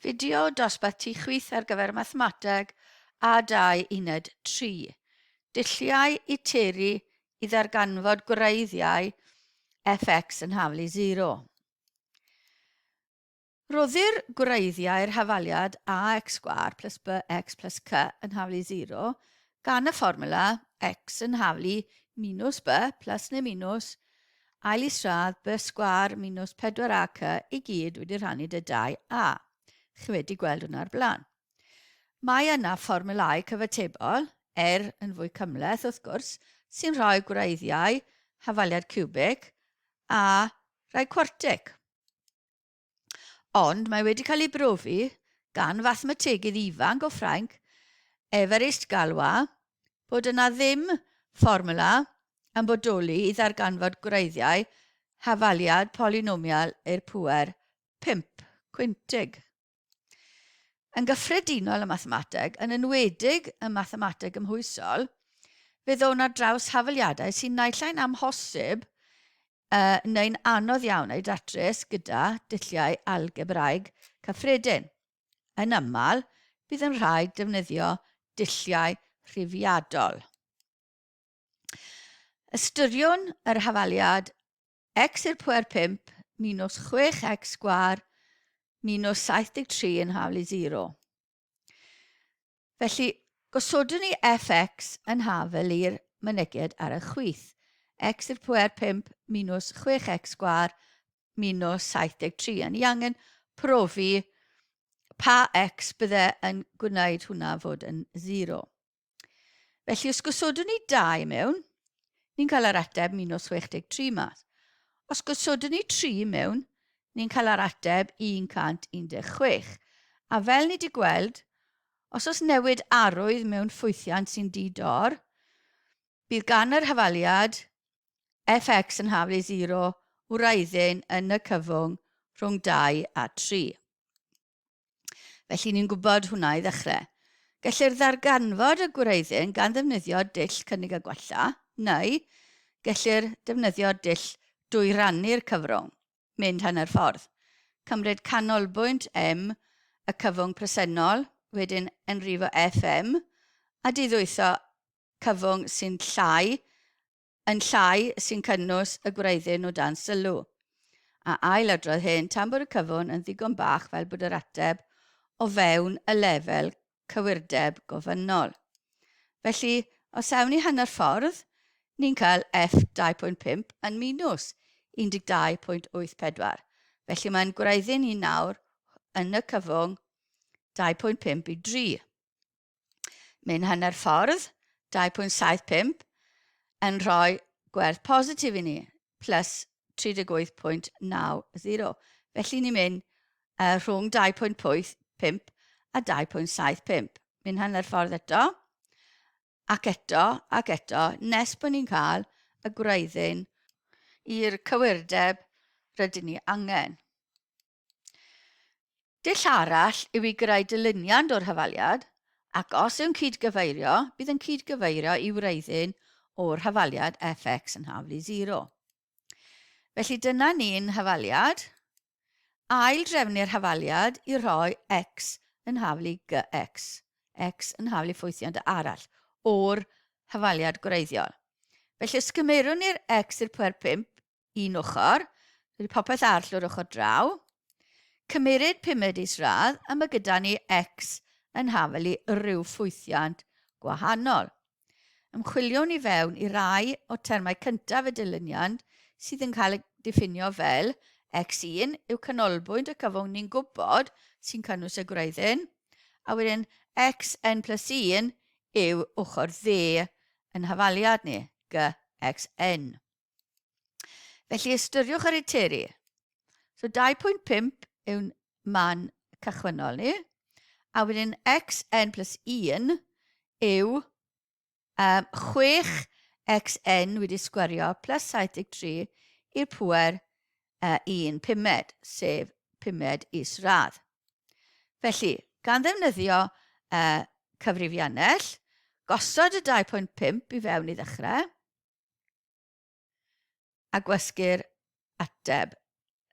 Fideo dosbarth tu chwith ar gyfer mathemateg a dau uned tri. Dulliau i teru i ddarganfod gwreiddiau fx yn hafal i sero. Rhoddir gwreiddiau'r hafaliad ax sgwâr plus bx plus cy yn hafal i sero gan y fformwla x yn hafal i minws b plus neu minws Ail isradd, bys sgwâr minws 4 ac y i gyd wedi rhannu dy dau a. Chi wedi gweld hwnna o'r blaen. Mae yna fformulau cyfatebol, er yn fwy cymhleth wrth gwrs, sy'n rhoi gwreiddiau hafaliad ciwbic a rhai cwartic. Ond mae wedi cael ei brofi gan fathemategydd ifanc o Ffrainc, Évariste Galois, bod yna ddim fformwla yn bodoli i ddarganfod gwreiddiau hafaliad polynomial i'r pŵer pump cwintig. Yn gyffredinol ym mathemateg, yn enwedig ym mathemateg gymhwysol, fe ddown ar draws hafaliadau sy'n naillai'n amhosib uh, neu'n anodd iawn ei datrys gyda dulliau algebraeg cyffredin. Yn aml, bydd yn rhaid defnyddio dulliau rhifiadol. Ystyriwn yr hafaliad x i'r pwer 5 minus 6x sgwar minus 73 yn haflu 0. Felly, gosodwn ni fx yn hafel i'r mynegiad ar y chwith. x i'r pwer 5 minus 6x sgwar minus 73. A ni angen profi pa x bydde yn gwneud hwnna fod yn 0. Felly, os gosodwn ni dau mewn, ni'n cael yr ateb 163 mas. Os gosodwn ni tri mewn, ni'n cael yr ateb 116. A fel ni wedi gweld, os oes newid arwydd mewn ffwythiant sy'n di-dor, bydd gan yr hafaliad fx yn haflu 0 wraiddyn yn y cyfwng rhwng 2 a 3. Felly ni'n gwybod hwnna i ddechrau. Gellir ddarganfod y gwreiddyn gan ddefnyddio dull cynnig a gwella, neu gellir defnyddio dull dwy rannu'r cyfrwng, mynd hanner ffordd. Cymryd canolbwynt M, y cyfwng presennol, wedyn enrifo FM, a diddwytho cyfwng sy'n llai Yn llai sy'n cynnwys y gwreiddyn o dan sylw. A ailadrodd hyn tan bod y cyfwn yn ddigon bach fel bod yr ateb o fewn y lefel cywirdeb gofynnol. Felly, os awn ni hanner ffordd, ni'n cael F 2.5 yn minws 12.84. Felly mae'n gwreiddyn i nawr yn y cyfwng 2.5 i 3. Mae'n hanner ffordd, 2.75, yn rhoi gwerth positif i ni, plus 38.90. Felly ni'n mynd uh, rhwng 2.85 a 2.75. Mynd hanner ffordd eto, ac eto, ac eto, nes bod ni'n cael y gwreiddyn i'r cywirdeb rydyn ni angen. Dull arall yw i greu dilyniant o'r hafaliad, ac os yw'n cyd-gyfeirio, bydd yn cyd-gyfeirio i wreiddyn o'r hafaliad fx yn haflu 0. Felly dyna ni'n hafaliad. Ail-drefnu'r hafaliad i roi x yn haflu gx, x yn haflu ffwythiant arall o'r hafaliad gwreiddiol. Felly os cymeirwn ni'r x i'r pwer 5, un ochr, rhoi popeth arll o'r ochr draw, cymeryd pumed isradd a mae gyda ni X yn hafel i ryw ffwythiant gwahanol. Ymchwiliwn i fewn i rai o termau cyntaf y dilyniant sydd yn cael ei diffinio fel X1 yw canolbwynt y cyfwng ni'n gwybod sy'n cynnwys y gwreiddyn, a wedyn Xn plus 1 yw ochr dde yn hafaliad ni, Gxn. Felly ystyriwch yr eiteri. So 2.5 yw'n man cychwynnol ni. A wedyn xn plus 1 yw um, 6 xn wedi sgwerio plus 73 i'r pwer uh, 1 pumed, sef pumed is radd. Felly, gan ddefnyddio uh, cyfrifiannell, gosod y 2.5 i fewn i ddechrau, a gwasgu'r ateb.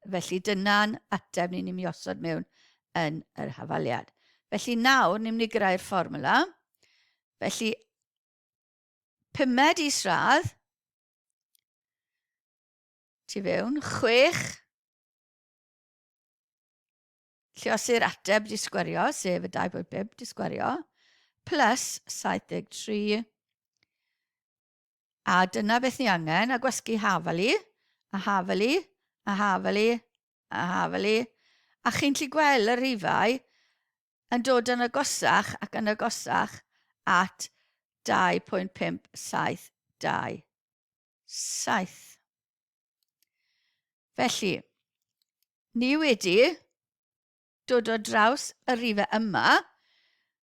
Felly dyna'n ateb ni'n mynd i osod mewn yn yr hafaliad. Felly nawr ni'n mynd i greu'r fformwla. Felly pumed isradd tu fewn, chwech lliosi'r ateb di sgwario, sef y 2.5 di sgwario, plus 73 A dyna beth ni angen, a gwasgu hafali, a hafali, a hafali, a hafali. A chi'n lli gweld y rhifau yn dod yn agosach ac yn agosach at 2.572. Felly, ni wedi dod o draws y rhifau yma,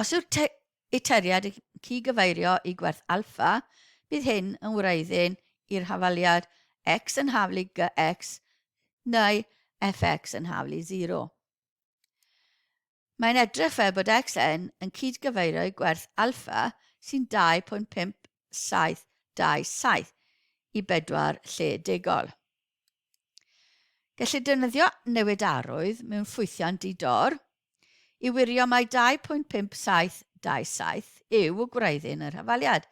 Os yw'r te y teriad yn cygyfeirio i gwerth alfa, bydd hyn yn wreiddyn i'r hafaliad x yn haflu gx neu fx yn haflu 0. Mae'n edrych fel bod xn yn cydgyfeirio i gwerth alfa sy'n 2.5727 i bedwar lle degol. Gellir defnyddio newidarwydd mewn ffwythiau'n di-dor i wirio mai 2.5727 yw gwraiddyn yr hafaliad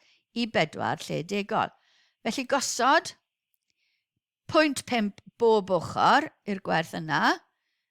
i bedwar lle degol. Felly gosod 0.5 bob ochr i'r gwerth yna,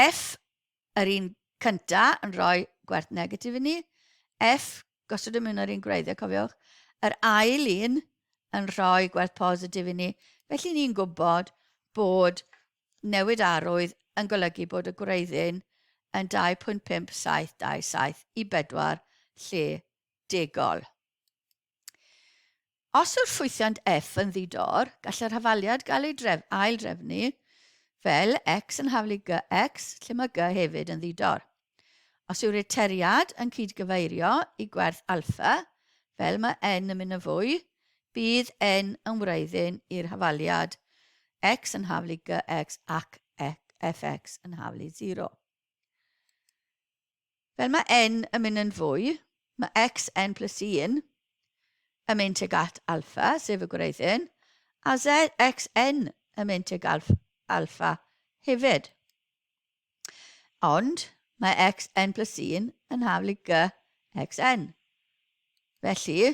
F, yr un cynta yn rhoi gwerth negatif i ni. F, gosod y mewn yr un gwreiddiau, cofiwch. Yr ail un yn rhoi gwerth positif i ni. Felly ni'n gwybod bod newid arwydd yn golygu bod y gwreiddyn yn 2.5727 i bedwar lle degol. Os yw'r ffwythiant F yn ddi-dor, gall yr hafaliad gael ei dref, ail-drefnu fel X yn haflu GX, lle mae G hefyd yn ddi-dor. Os yw'r iteriad yn cyd-gyfeirio i gwerth alpha, fel mae N yn mynd yn fwy, bydd N yn wreiddyn i'r hafaliad X yn haflu GX ac Fx yn haflu 0. fel mae n yn mynd yn fwy, mae x, n plus 1, yn mynd tuag at alpha, sef y gwreiddyn, a z, x, n yn mynd tuag at alpha hefyd. Ond mae x, n plus 1 yn haflu g, x, n. Felly,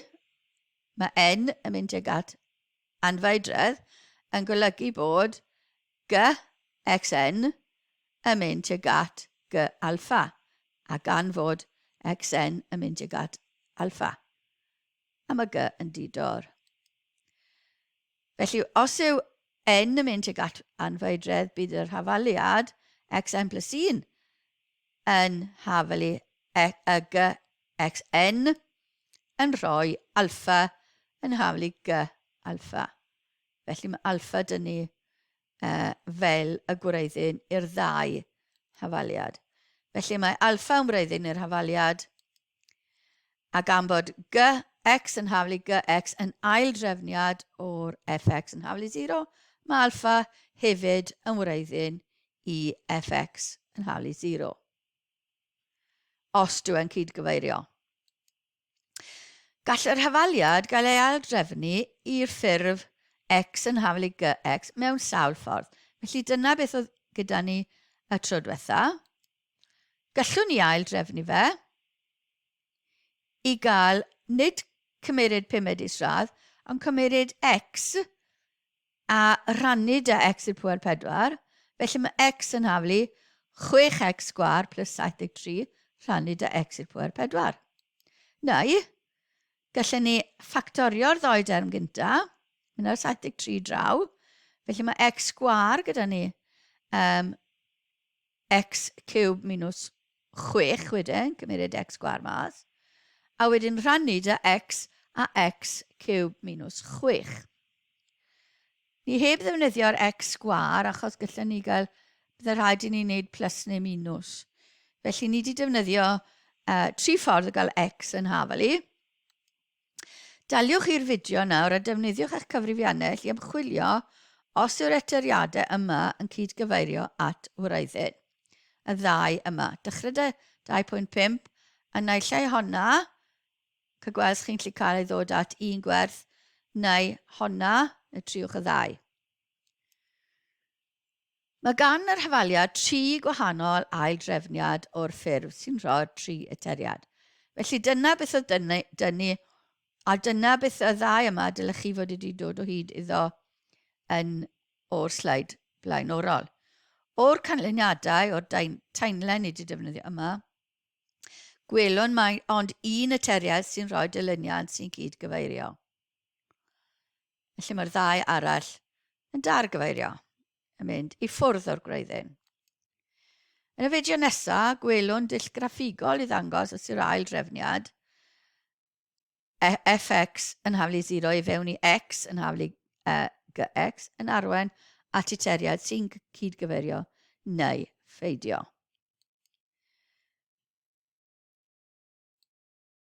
mae n yn mynd tuag at anfeidredd yn golygu bod GXN yn mynd tuag at G-alpha, a gan fod XN yn mynd tuag at alpha, a mae G yn di-dor. Felly, os yw N yn mynd tuag at anfeidredd, bydd yr hafaliad XN plus 1 yn hafalu y GXN, yn rhoi alpha yn hawl i G alpha. Felly mae alpha dyn ni uh, fel y gwreiddyn i'r ddau hafaliad. Felly mae alpha yn gwreiddyn i'r hafaliad a gan bod gx yn haflu gx yn ail drefniad o'r fx yn haflu 0, mae alfa hefyd yn wreiddyn i fx yn haflu 0. os dw i'n cyd-gyfeirio. Gall yr hafaliad gael ei aildrefnu i'r ffurf X yn hafal i GX mewn sawl ffordd. Felly dyna beth oedd gyda ni y tro diwetha. Gallwn ni aildrefnu fe i gael nid cymeryd pumed isradd, ond cymeryd X a rhannu 'da x i'r pŵer pedwar, felly mae x yn haflu 6x sgwâr plus 73 rhannu 'da x i'r pŵer pedwar. Neu, gallen ni ffactorio'r ddoi derm gynta, mynd â'r 73 draw, felly mae x sgwâr gyda ni, um, x cube minus 6 wedyn, cymeriad x sgwar mas, a wedyn rhannu da x a x cube minus 6. Ni heb ddefnyddio'r x sgwar achos gallwn ni gael, byddai rhaid i ni wneud plus neu minus. Felly ni wedi defnyddio uh, tri ffordd o gael x yn hafel i. Daliwch i'r fideo nawr a defnyddiwch eich cyfrifiannell i ymchwilio os yw'r etyriadau yma yn cyd-gyfeirio at wraiddyn. Y ddau yma. Dychryd 2.5 yn naill ai honna, cy gwelch chi'n lli cael ei ddod at un gwerth, neu honna, neu triwch y ddau. Mae gan yr hafaliad tri gwahanol aildrefniad o'r ffurf sy'n rhoi'r tri eteriad. Felly dyna beth oedd dynu, dynu, a dyna beth y ddau yma dylech chi fod wedi dod o hyd iddo yn o'r sleid blaenorol. O'r canlyniadau o'r taenlen i wedi defnyddio yma, gwelwn mae ond un eteriad sy'n rhoi dylyniad sy'n cyd-gyfeirio. Felly mae'r ddau arall yn dargyfeirio yn mynd i ffwrdd o'r gwreiddyn. Yn y fideo nesaf, gwelwn dull graffigol i ddangos os yw'r ail drefniad e, fx yn haflu 0 i fewn i x yn haflu uh, gx yn arwen at y teriad sy'n cydgyfeirio neu pheidio.